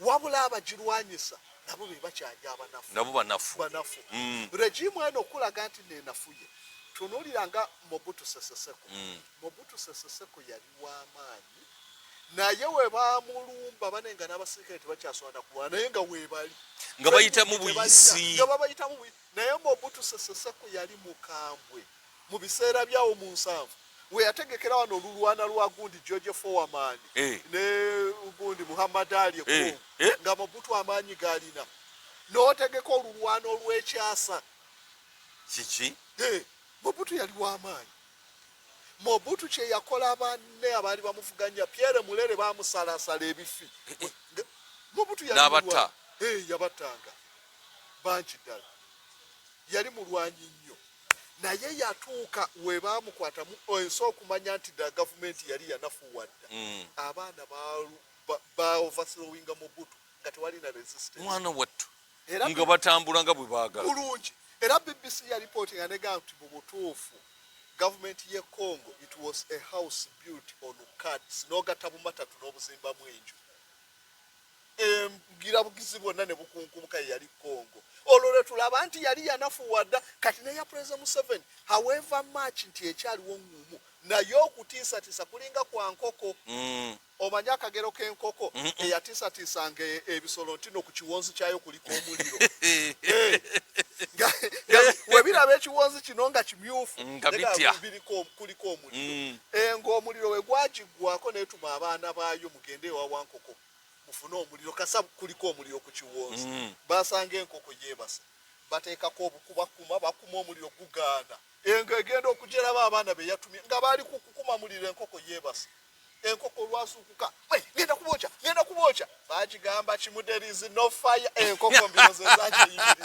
wabula abagirwanyisa nabo be bakyali abanafu nabo banafu banafu mm. regimu eno okulaga nti nenafuye tunuulira nga mobutu seseseko mm. mobutu seseseko yali w'amaanyi naye webamulumba bane nga n'abasirikale tebakyaswana kulwana naye nga webali nga bayitamu buyisi nga babayitamu buyisi naye mobutu seseseko yali mukambwe mu biseera byawo mu nsanvu weyategekera wano olulwana lwa gundi george fowaman eh. ne gundi muhammad ali eh. ekumu eh. nga mubutu amaanyi galina notegeka olulwana olwekyasa kiki mubutu yali wamaanyi mobutu kyeyakola banne abaali bamuvuganya pierre mulere bamusalasala ebifi mobutu yabatta yabattanga bangi ddala yali mulwanyi nnyo naye yatuuka webaamukwata mu ensi okumanya nti da gavumenti yali yanafuwadda mm. abaana baovaslowinga mubutu nga tewali na resistance mwana wattu nga batambula nga bwe baagala bulungi era bbc yalipooti nga nega nti mu butuufu gavumenti ye congo it was a house built on cards n'ogatta bumatatu n'obuzimbamu enju embugirabugizi bwonna ne bukunkumuka ye yali congo olwo lwe tulaba nti yali yanafuwa dda kati neya pulezida museveni haweva mach nti ekyaliwo ngumu naye okutiisatiisa kulinga kwa nkoko mm. omanyi akagero k'enkoko eyatiisatiisa nga e, ebisolo nti no ku kiwonzi kyayo kuliko omuliro webiraba ekiwonzi kino nga kimyufu kuliko omuliro mm. eh, ngaomuliro wegwagiggwako netuma abaana baayo mugende ewawankoko mufune omuliro kasa kuliko omuliro ku kiwonzi mm. basanga enkoko yebase bateekako obukubakuma bakuma omuliro gugaana engo egenda okujeraba abaana beyatumye nga baali kukukuma muliro enkoko yebase enkoko olwasuukuka genda kubooca genda kubooca bagigamba kimuderizi no fire enkoko mbinozezakyeyimiri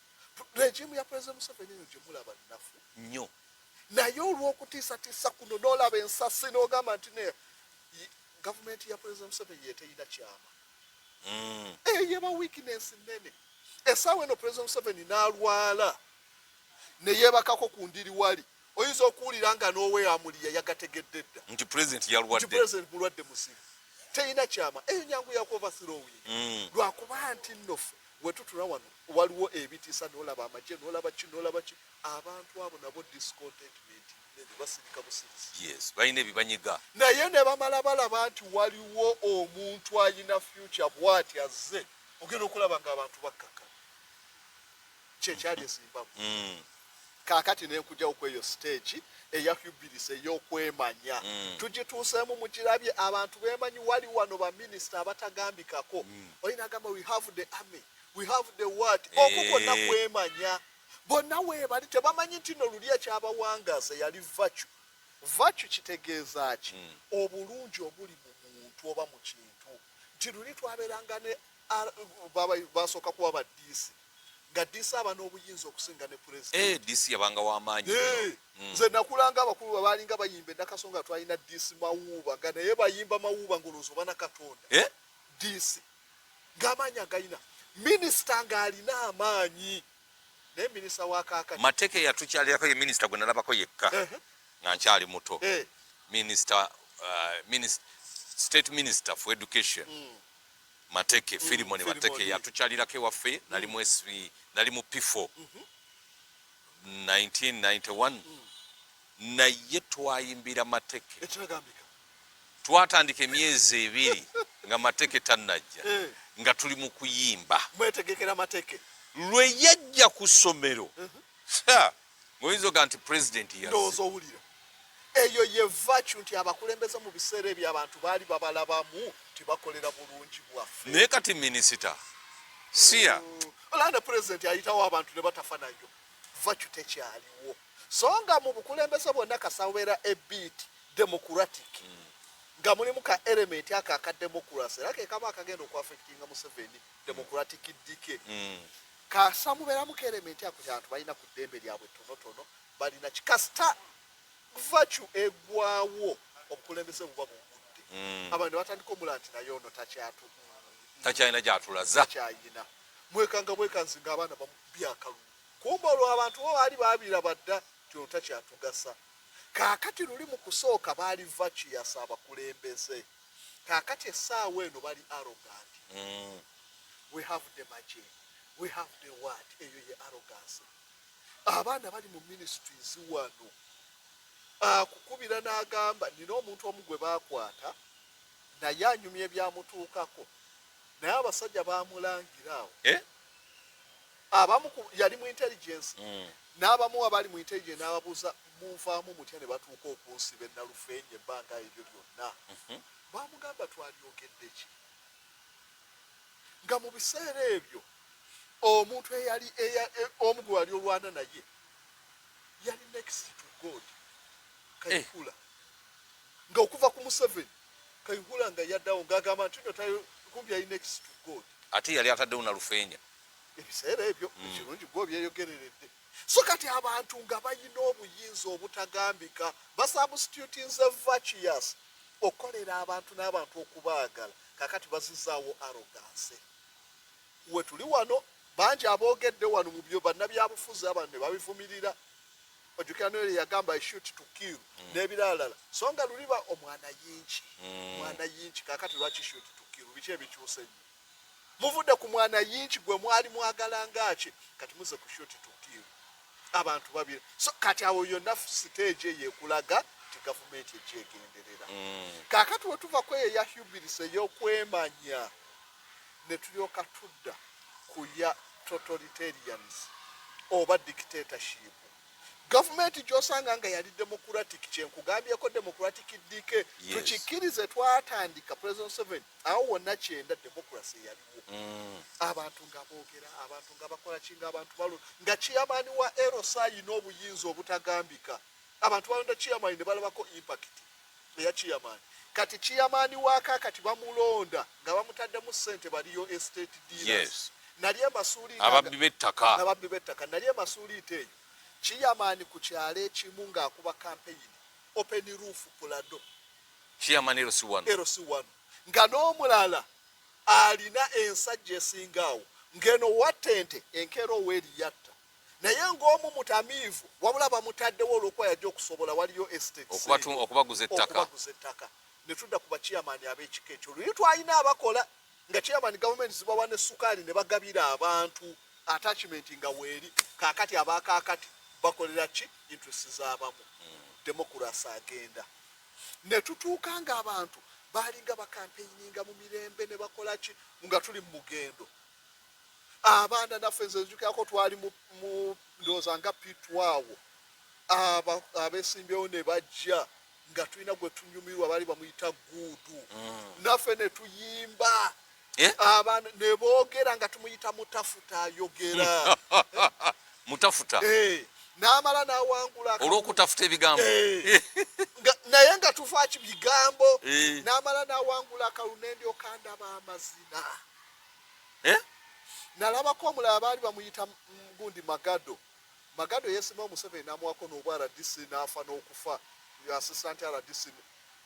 regimu ya president museveni eyo gyemulaba nnafu nnyo naye olw'okutiisatiisa kuno n'olaba ensasi n'ogamba nti ne gavumenti ya president museveni yeteyina kyama mm. eyo yeba weakness nnene esaawa eno president museveni n'alwala neyebakako ku ndiri wali oyinza okuwulira nga n'oweyamuli yayagategedde dda nti president yalwadde nti president mulwadde muzibu teyina kyama eyo nyangu yakuova thirowing mm. lwakuba nti nno ffe wetutula wano waliwo ebitiisa nolaba amagye nolaba ki nolaba ki abantu abo nabo discontentment basirika busirisi yes balina ebibanyiga naye ne bamala balaba nti waliwo omuntu ayina future bwati azze ogenda okulaba nga abantu bakkaka kyekyali ezimbabwe mm. kakati nenkujawo kweyo stage eya hubilis eyokwemanya mm. tugituusemu mugirabye abantu bemanyi wali wano baminisita abatagambikako mm. oyina agamba we have the army we have the word eh. oku kwonna kwemanya bonna webali tebamanyi nti no luli ekyabawangaza yali vacu vacu kitegeeza ki mm. obulungi obuli mu muntu oba mu kintu nti luli twaberanga ne basooka kuba baddiisi nga DC aba n'obuyinza okusinga ne president. Eh, DC yabanga wa maanyi. Eh, mm. Nze nakulanga abakulu babaalinga bayimba endakaso nga twalina DC mawuuba nga naye bayimba mawuuba ng'olowooza oba na Katonda. Eh? DC ng'amaanyi agalina minisita ng'alina amaanyi naye minisita wa kaakati. Mateke yatukyalirako ye minisita gwe nalabako yekka eh, eh. nga nkyali muto. Eh. Minisita, uh, minisita, state minister for education. Mm. Mateke mm, Filimon mm, Mateke yatukyalirako ewaffe nali mu SB nali mu P4 mm -hmm. 1991 mm. naye twayimbira Mateke twatandika emyezi ebiri nga Mateke tanajja eh. nga tuli mu kuyimba mwetegekera Mateke lwe yajja ku ssomero mm -hmm. Muyinza oga nti president yasi. Ndozo owulira. Eyo ye vacu nti abakulembeze mu biseera ebyo abantu baali babalabamu nti bakolera bulungi bwaffe. Naye kati minisita siya. Hmm. Olanda president ayitawo abantu ne batafa nayo. Vacu tekyaliwo. So nga mu bukulembeze bwonna kasawera ebiiti democratic. Mm. nga mulimu ka element ako aka democracy era kekaba akagenda okuaffectinga museveni democratic dike mm. Kasa muberamu ka element ako kyantu balina ku ddembe lyabwe tonotono balina kikasita vacu egwawo obukulembeze buba bugudde mm. abantu batandika omula nti naye ono takyatu takyalina gyatulaza takyayina mwekanga bwekanzi nga abaana bamubyakalu kumba olwo abantu bo baali babira badda ti ono takyatugasa kakati luli mu kusooka baali vacu yasa abakulembeze kakati esaawa eno bali arrogant mm. we have the maje we have the what eyo ye arrogance abaana bali mu ministries wano akukubira n'agamba nina omuntu omu gwe baakwata naye anyumya ebyamutuukako naye abasajja bamulangira awo eh? abamu yali mu intelligence mm. n'abamu abali mu intelligence n'ababuuza munvaamu mutya ne batuuka okunsiba ennalufeenya ebbanga eryo lyonna mhm. bamugamba twalyogedde ki nga mu biseera ebyo omuntu eyali e, omu gwe wali olwana naye yali next to god kayihula eh. nga okuva ku museveni kayihula nga yaddawo ng'agamba nti no tayo kumbi yali next to god ate yali ataddewo na lufeenya ebiseera ebyo mm. ekirungi gwe obyeyogereredde so kati abantu nga balina obuyinza obutagambika basubstitutinze vacius okukolera abantu n'abantu okubaagala kakati bazizaawo aroganse wetuli wano bangi aboogedde wano mu byo bannabyabufuzi abantu ne babivumirira ojukira noyo yagamba ishut tukir mm. n'ebiralala so nga luliba omwana yinki mm. mwana yinki kakati lwaki shut tukiru biki ebikyuse nyo muvude ku mwana yinki gwe mwali mwagala ngaaki kati muze ku shoti tukiiru abantu babira so kati awo yonna siteegi eyo ekulaga nti gavumenti egyegenderera mm. kakati wetuva kweyo eya hubilis eyokwemanya netulyoka tudda kuya totalitarians oba dictatorship Gavumenti gyosanga nga yali democratic kyenkugambyeko democratic DK yes. tukikirize twatandika president seven awo wonna kyenda democracy yaliwo mm. abantu nga bogera abantu nga bakola kinga abantu balo nga chairmani wa erosa yina obuyinza obutagambika abantu balonda chairmani ne balabako impact eya chairman kati chairman wa kakati bamulonda nga bamutaddemu ssente baliyo estate dealers yes. nali emasuuliite ababbi b'ettaka ababbi b'ettaka nali emasuuliite eyo chairman ku kyalo ekimu ng'akuba kampeyini open roof pulado chairman ero si wano ero si wano nga n'omulala alina ensajja esingaawo ng'eno wattente enkeera ow'eriyatta naye ng'omu mutamiivu wabula bamutaddewo olw'okuba yajja okusobola waliyo estateokubaguza ettaka ne tudda ku baciyamaani ab'ekika ekyo luyi twalina abakola nga ciyamaani gavumenti zibawa ne sukaali ne bagabira abantu attachment nga weeri kaakati abaakaakati bakolera ki interest z'abamu hmm. demokurasi agenda ne tutuuka ng'abantu baalinga bakampeininga mu mirembe ne bakola ki nga tuli mu mugendo abaana naffe nze nzijukirako twali mu ndowooza nga pitwawo abesimbyewo ne bajja nga tulina gwe tunyumirwa baali bamuyita guudu mm. naffe ne tuyimba eh? abaana ne boogera nga tumuyita mutafuta ayogera mutafuta eh. n'amala n'awangula olw'okutafuta ebigambo eh. naye nga tuvaaki bigambo eh. n'amala n'awangula akalunendio kandaba amazina eh? nalabako omulala baali bamuyita gundi magado magado yesima omuseveni namuwako nobwa rdc nafa nokufa assistant rdc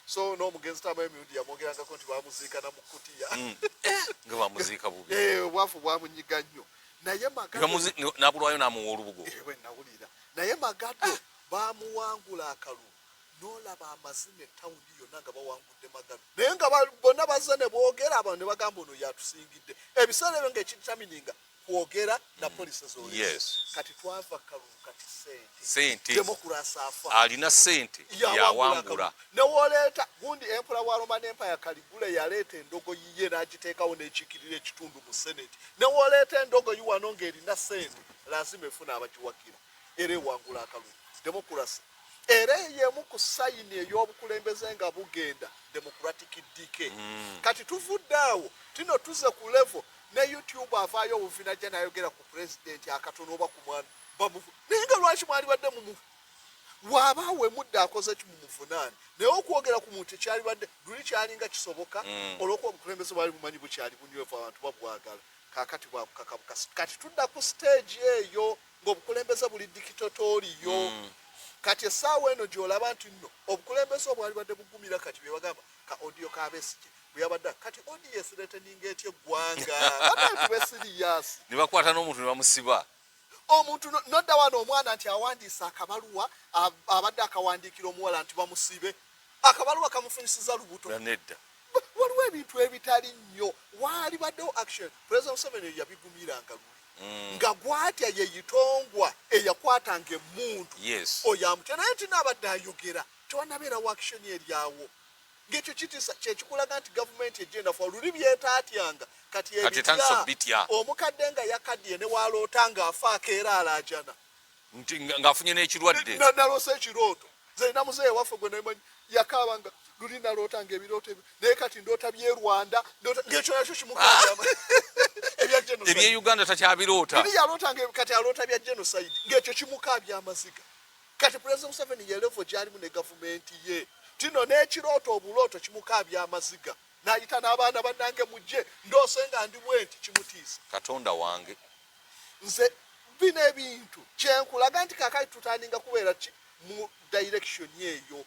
so nomugenzi tama emirundi yamwogerangako nti bamuziika namukutiya mm. eh, nga bamuziika bubi eh, obwafu bwamunyiga nnyo naye magadonabulwayo namuwa olubugo ewe nawulira naye magado bamuwangula akalulu nolaba amazina etawuni yonna nga bawangudde magalo naye nga bonna bazze ne boogera abantu ne bagamba ono yatusingidde ebiseera ebyo nga ekitamininga kwogera na mm. polisi zoli yes. kati twava kalulu kati sente demokurasi afa alina sente yawangula newoleeta gundi empola wa roman empire kaligula yaleeta endogo yiye n'agiteekawo n'ekiikirira ekitundu mu senate newoleeta endogo yi wano ng'erina sente lazima efuna abagiwagira era ewangula akalulu demokurasi era eyo yemu ku sayini ey'obukulembeze nga bugenda democratic dike mm. kati tuvudde awo tino tuze ku levo ne youtube avaayo obuvina ja nayogera ku pulezidenti akatono oba ku mwana bamuvu naye nga lwaki mwalibadde mumu waaba wemudde akoze ki mumuvunaani naye okwogera ku muntu ekyalibadde luli kyalinga kisoboka mm. olwokuba obukulembeze bwali bumanyi bukyali bunywevu abantu babwagala kakati bwakukakabukasi kati tudda ku siteegi eyo ng'obukulembeze buli dikitotooliyo mm. kati essaawa eno gy'olaba nti nno obukulembeze obwali badde bugumira kati bye bagamba ka odiyo ka besigye bwe yabadde kati odiyo esireteninga etya eggwanga aatubesiriyasi ne bakwata n'omuntu ne bamusiba omuntu nodda wano omwana nti awandiise akabaluwa abadde akawandiikira omuwala nti bamusibe akabaluwa kamufunyisiza lubuto nedda waliwo ebintu ebitali nnyo waali baddewo action president museveni eyo yabigumiranga luli mm. nga gwatya yeyitongwa eyakwatanga emundu oyo amutya naye nti naabadde ayogera tewanabeerawo action eryawo ngekyo kitisa kyekikulaga nti gavumenti ejendafa oluli byetaatyanga kati ebitya omukadde nga yakaddiye newaloota nga afaako era alaajana nti ng'afunye n'ekirwadde nalose ekirooto zerina muzeeyi waffe gwe naye manyi yakaaba nga luli naloota nga ebirooto ebyo naye kati ndoota bye rwanda ngekyo nakyo kimukaama ebye uganda takyabiroota iri yaloota nga kati aloota bya genocide ngekyo kimukaabya amaziga kati pulezida museveni yelevo gyalimu ne gavumenti ye tino n'ekirooto obulooto kimukaabya amaziga nayita n'abaana bannange mujje ndoose nga ndi bwenti kimutiisa katonda wange nze bino ebintu kyenkulaga nti kakati tutandinga kubeera ki mu direction eyo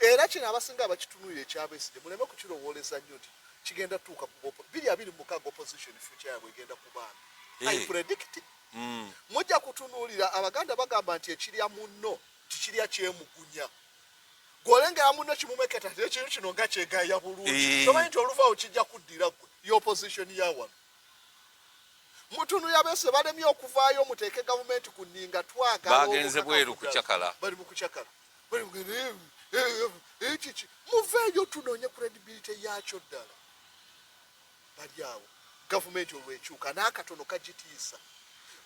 era kino abasinga abakitunulira ekyabeside muleme kukirowooleza nnyo nti kigenda tuuka kugopo biri abiri mukaga opposition future yabwe egenda kubaana eh. i predict mm. mujja kutunuulira abaganda bagamba nti ekirya munno tikirya kyemugunya gwolengera muno kimumeketa nti ekintu kino nga kyegaya bulungi eh. tomanyi nti oluvaawo kijja kuddira gwe y'opposition ya wano mutunu yabese balemye okuvaayo muteeke gavumenti ku nninga twagalabagenze bweru kucakala bali mu kucakala ekiki muveeyo tunoonye credibility yaakyo ddala bali awo gavumenti olwekyuka n'akatono kagitiisa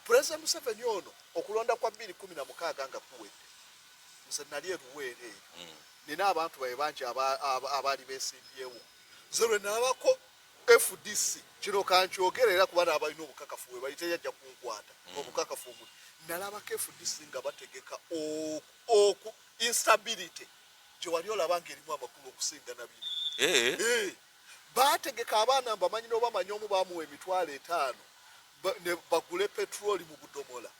pulezidenti museveni ono okulonda kwa bbiri kumi na mukaaga nga kuwedde nze nali eruweera eyo hmm. nina abantu baye bangi abaali besimbyewo nze lwe nalabako fdc kino kankyogera era kuba naabalina obukakafu we bali teyajja kunkwata hmm. obukakafu omu nalabako fdc nga bategeka oku instability gye wali olaba ng'erimu amakulu okusinga nabiri eh? eh. Baategeka abaana mbamanyi n'obamanyi omu baamuwa emitwalo etaano ne bagule petulooli mu budomola.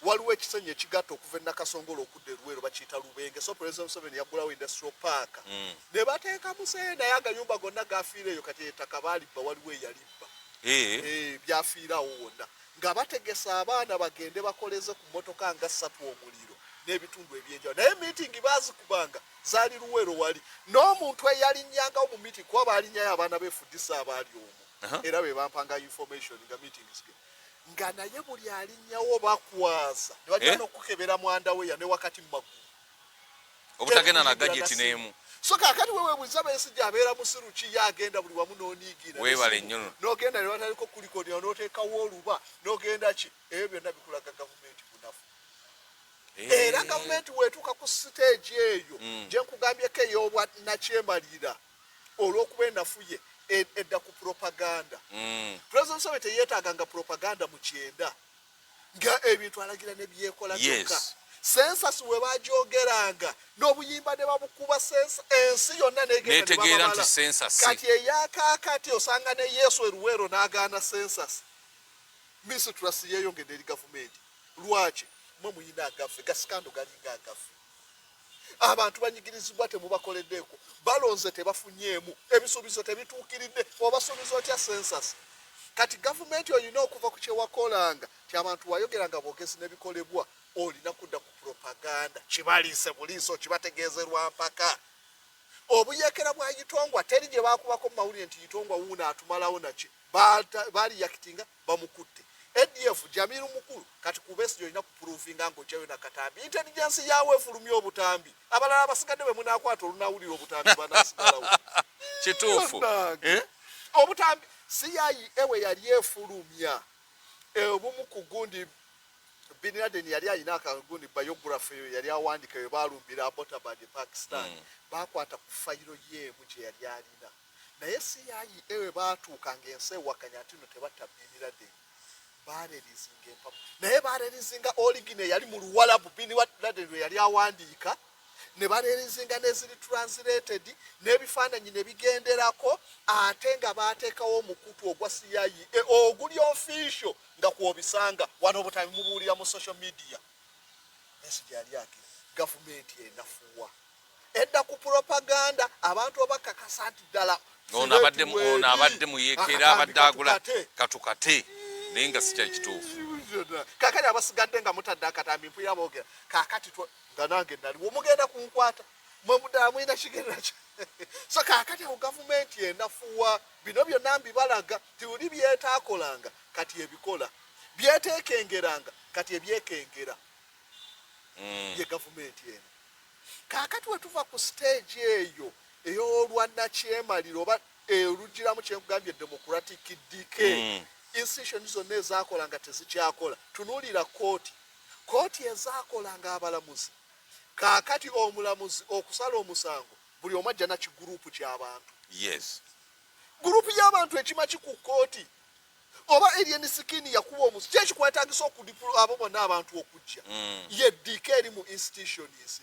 Waliwo ekisenyi ekigatta okuva e Nakasongola okudda e Luweero bakiyita Lubenge so Pulezidenti Museveni yaggulawo Industrial Park mm. ne bateeka muzeeyi naye agayumba gonna gaafiira eyo kati ettaka baalibba waliwo eyalibba eh. Eh, byafiirawo wonna nga bategesa abaana bagende bakoleze ku mmotoka nga ssatu omuliro n'ebitundu ebyenjawo naye miitingi baazikubanga zali luwero wali n'omuntu eyalinyangawo mu meeting kuba baalinyayo abaana befudisa abaali omu era be bampanga information nga meetings ge nga naye buli alinyawo bakwaza ne bagenda eh? okukebera mwanda we ya ne wakati mu maggulu obutagenda na gajeti n'emu so kakati wewe buza besi jabera musiru ki yagenda buli wamu nonigira webale nyono nogenda ne bataliko kuliko ne onoteka woluba nogenda ki ebyo nabikulaga government era gavumenti wetuuka ku siteegi eyo mm. gye nkugambyeko ey'obwa nakyemalira olw'okuba enafuye e, edda ku propaganda mm. president museveni teyeetaaga nga propaganda mu kyenda nga ebintu alagira ne byekola kyokka sensasi we bagyogeranga n'obuyimba ne babukuba ensi yonna netegeera nti sensasi kati eyakaakati osanga ne yesu eruweero n'agaana sensasi misitulasi yeeyongedde eri gavumenti lwaki mwe muyina agaffe gasikando galinga agaffe abantu banyigirizibwa temubakoleddeeko balonze tebafunyeemu ebisuubizo tebituukiridde obasuubiza otya sensas kati gavumenti olina okuva ku kyewakolanga ti abantu wayogeranga bwogezi nebikolebwa olina kudda ku propaganda kibaliise buliiso kibategeezerwa mpaka obuyekera bwa itongwa teri gye bakubako mu mawulire nti itongwa wuuno atumalawo naki baliyakitinga bamukutte ADF Jamiru Mukulu kati ku Besigye olina kupuruvinga ng'oggyayo na katambi intelligence yaawe efulumya obutambi abalala abasigadde bwe munaakwata olunaawulira obutambi banaasigalawo kituufu eh? obutambi CIA ewe yali efulumya eh, obumu ku gundi Bin Laden yali alina akagundi biography eyo yali awandika eyo baalumbira Abbottabad e Pakistan mm. baakwata ku fayiro yeemu gye yali alina naye CIA we baatuuka ng'ensi ewakanya nti no tebatta Bin Laden baarelizinga empapula naye baarelizinga oligine eyali mu luwalabu Bin Laden lwe yali awandiika ne bareerizinga n'eziri translated n'ebifaananyi ne bigenderako ate nga baateekawo omukutu ogwa CIA e, oguli official nga kw'obisanga wano obutabimubuulira mu social media ensi gyali ake gavumenti enafuwa edda ku propaganda abantu obakakasa nti ddala ono abadde muyekera abadde agula katukate naye nga sikyali kituufu kakati abasigadde nga mutadde akatambi mpulira boogera kakati nga nange naliwo mugenda kunkwata mwemuddala mulina kigenda ki so kakati awo gavumenti enafuwa bino byonna mbibalaga tiuli byetaakolanga kati ebikola byeteekengeranga kati ebyekengera mm. ye gavumenti eno kakati wetuva ku stage eyo eyolwa nakyemalira oba erugiramu eh, kyenkugambye democratic dk mm. institution zonna ezakola nga tezikyakola tunulira kooti kooti ezakola nga abalamuzi kakati omulamuzi okusala omusango buli omu ajja nakigurupu kyabantu yes gurupu yabantu ekima kiku kooti oba alien skin yakuba omusi kyekikwetagisa okudipula abo bonna abantu okujja mm. yeddiika eri mu institutions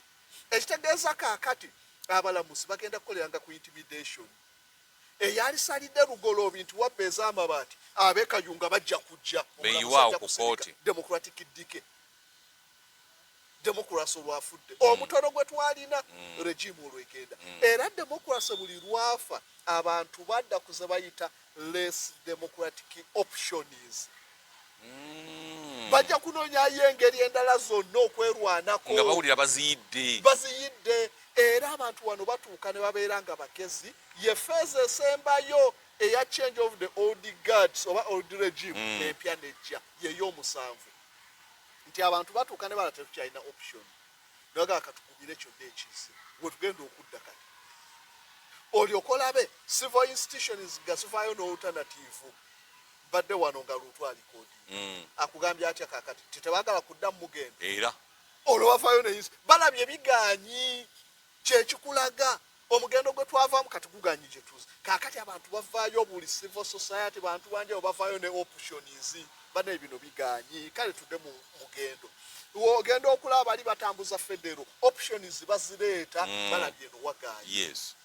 ekitegeeza kakati abalamusi bagenda kukoleranga ku intimidation eyalisalidde lugoloobi nti wabba ez'amabaati abekayunga bajja kujja democratic dike democracy olwafudde mm. omutono gwe twalina mm. regime olwegenda mm. era democracy buli lwafa abantu badda kuze bayita less democratic options bajja kunonyayo engeri endala zonna okwerwanako nga bawulira baziyidde baziyidde era abantu wano batuuka ne babeera nga bagezi ye feeza esembayo eya change of the old guards oba old regime empya nejja yeyo omusanvu nti abantu batuuka ne bala tetukyalina option nagaa katukubire kyonna ekiise wetugenda okudda kati olyoka olabe civil institutions nga zivaayo n'olutanatiivu mbadde wano nga luutu alikodi mm. akugambye atya kakati tetebagala kudda mugenda era olwo bavayo ne balabye biganyi kyekikulaga omugendo gwe twavaamu kati guganye gye tuze kaakati abantu bavaayo buli civil society bantu banjawo bavaayo ne options banaye bino biganye kale tudde mu mugendo ogenda okulaba bali batambuza federo options bazireeta mm. balabye no waganye yes.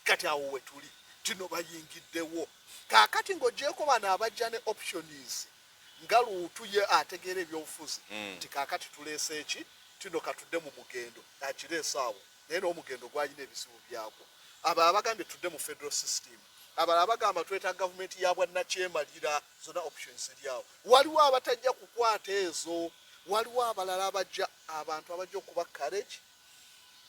kati awo wetuli tino bayingiddewo kaakati ng'ogyeko bano abajja ne options nga luutu ye ategeera ebyobufuzi mm. nti kakati tuleese eki tino katudde mu mugendo akireese awo naye n'omugendo gwalina ebizibu byagwo abo abagambye tudde mu federal system abala abagamba tweta gavumenti ya bwannakyemalira zona options eryawo waliwo abatajja kukwata ezo waliwo abalala abajja abantu abajja okuba courage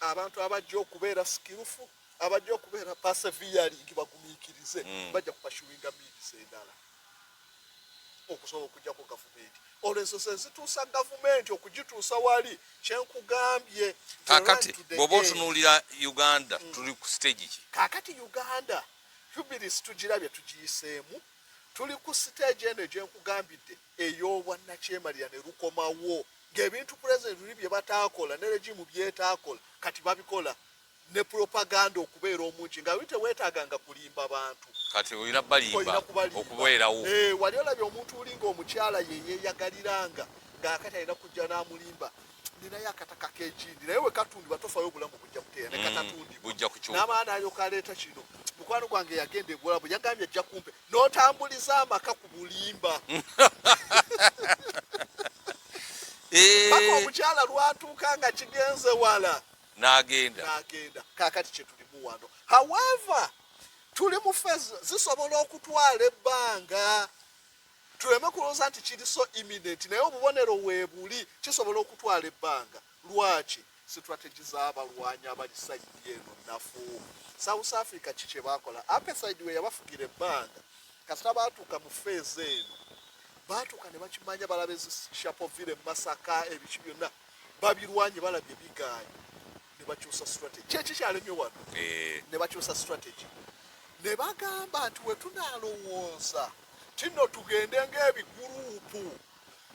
abantu abajja okubeera skillful abajja okubeera persevereing bagumiikirize mm. bajja kupashuwinga miidizi endala okusobola okujjako gavumenti olwo enso sezituusa gavumenti okugituusa wali kyenkugambye kakati bwoba otunuulira uganda mm. tuli ku stage ki kakati uganda hubilis tugirabye tugiyiseemu tuli ku stage eno gyenkugambidde ey'obwannakyemalira ne lukomawo ng'ebintu pulezidenti luli bye bataakola ne regimu byetaakola kati babikola ne propaganda okubeera omungi nga wite wetaga nga kulimba bantu kati olina balimba okubeerawo eh wali olabye omuntu uli nga omukyala ye yeyagaliranga nga akati alina kujja n'amulimba nina yakataka kejindi naye wekatundibwa tofayo obulamu bujja kuteera mm, nekatatundibwan'abaana alyoka aleeta kino mukwano gwange yagenda ebuwalabu yagambye ajja kumpe n'otambuliza amaka ku bulimba eh. paka omukyala lwatuuka nga kigenze wala n'agenda n'agenda kaakati kye tulimu wano however tuli mu fezi zisobola okutwala ebbanga tuleme kulowooza nti kiri so imminent naye obubonero weebuli kisobola okutwala ebbanga lwaki strategy z'abalwanyi abali sayidi eno nafu south africa ki kye baakola apesaidi we yabafugira ebbanga kasita baatuuka mu feezi eno baatuuka ne bakimanya balaba ezishapovire mu masaka ebiki byonna babirwanye balabye bigaanyi ne bakyusa strategy kyeki kyalemye wano eh. ne bakyusa strategy ne bagamba nti we tunalowooza tino tugende ng'ebiguruupu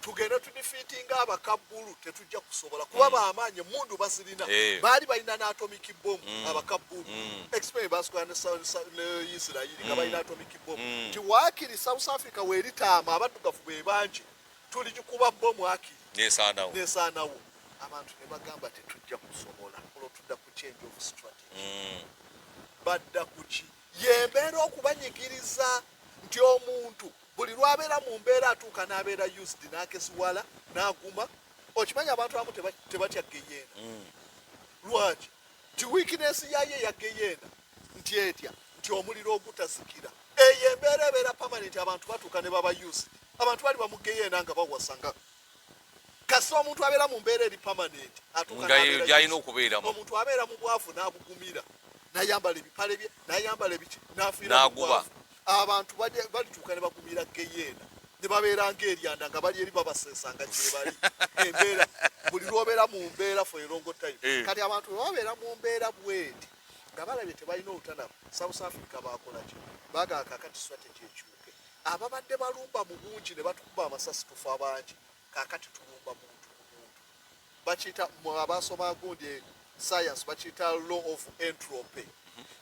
tugende tudifiitinga abakabbulu tetujja kusobola kuba mm. bamaanyi emundu bazirina eh. baali balina n'atomic bom mm. abakabbulu mm. expe basikola ne isirairi nga balina atomic bom nti waakiri south africa weeritaama abaddugavu be bangi tuligikuba bbo mwakiri nesaanawo abantu ne bagamba tetujja kusobola olwo tudda ku change of strategy mm. badda kuki yembeera okubanyigiriza nti omuntu buli lwabeera mu mbeera atuuka n'abeera used n'akesiwala n'aguma okimanyi abantu abamu tebatya geyeena mm. lwaki ti wiikinesi yayo eya geyeena nti etya nti omuliro ogutazikira eyo embeera ebeera pamanenti abantu batuuka ne babayusi abantu bali bamugeyeena nga bawasa nga kasi omuntu abeera mu mbeera eri pamanenti atuukagyalina okubeeramu omuntu abeera mu bwavu n'abugumira nayambala ebipale bye nayambala ebiki nafiiraguba abantu balituuka ne bagumira geyeena ne babeera ngaeryanda nga bali eri babasesa nga gyebali embeera buli lwobeera mu mbeera fo erongo time eh. kati abantu bwe babeera mu mbeera bweti nga balabye tebalina olutanamu south africa bakolaki bagaa kakati strategy ekyuke ababadde balumba mu bungi ne batukuba amasasi tufa bangi kakati tulumba muntu mu muntu bakiyita abasoma gundi science bakiyita law of entropy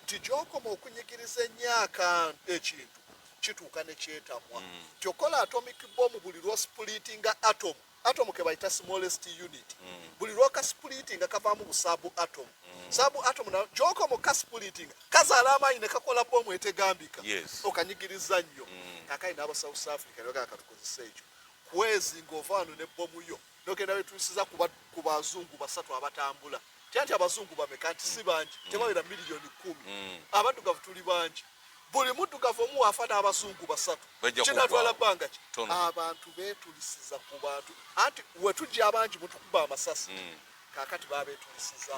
nti gyokoma okunyigiriza ennyo akantu ekintu kituuka ne kyetamwa mm. kyokola atomic bomu buli lwosipuliitinga atomu atomu kebayita smallest unit mm. buli lwoka splitting kavamu busabu atom mm. sabu atom na kyoko mu kasplitting kazala amaanyi ne kakola bomu etegambika yes. okanyigiriza nnyo mm. akai naba south africa nyoka akatukozesa ekyo kwezi ngovanu ne bomu yo nogenda wetusiza kuba kubazungu basatu abatambula Tyanti abazungu bameka nti si bangi mm. tebawera miliyoni kumi mm. abaddugavu tuli bangi buli muddugavu omu wafa n'abazungu basatu kinatwala bbanga ki abantu betulisiza ku bantu anti wetujja abangi mutukuba amasasi mm. kakati babetulisiza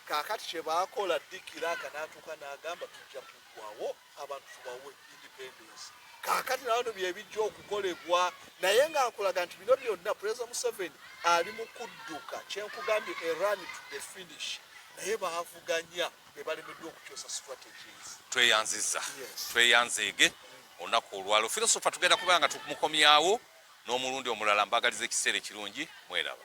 kakati kyebakola dikira akanatuka nagamba tujja kugwawo abantu tubawe independence kakati nabano byebijja okukolebwa naye nga nkulaga nti bino byonna pulezida museveni ali mu kudduka kyenkugambye eran to the finish naye bavuganya bebalemeddwa okukyusa strategies tweyanziza tweyanzeege olunaku olwalo filosofa tugenda kuba nga tumukomyawo n'omulundi omulala mbagaliza ekiseera ekirungi mweraba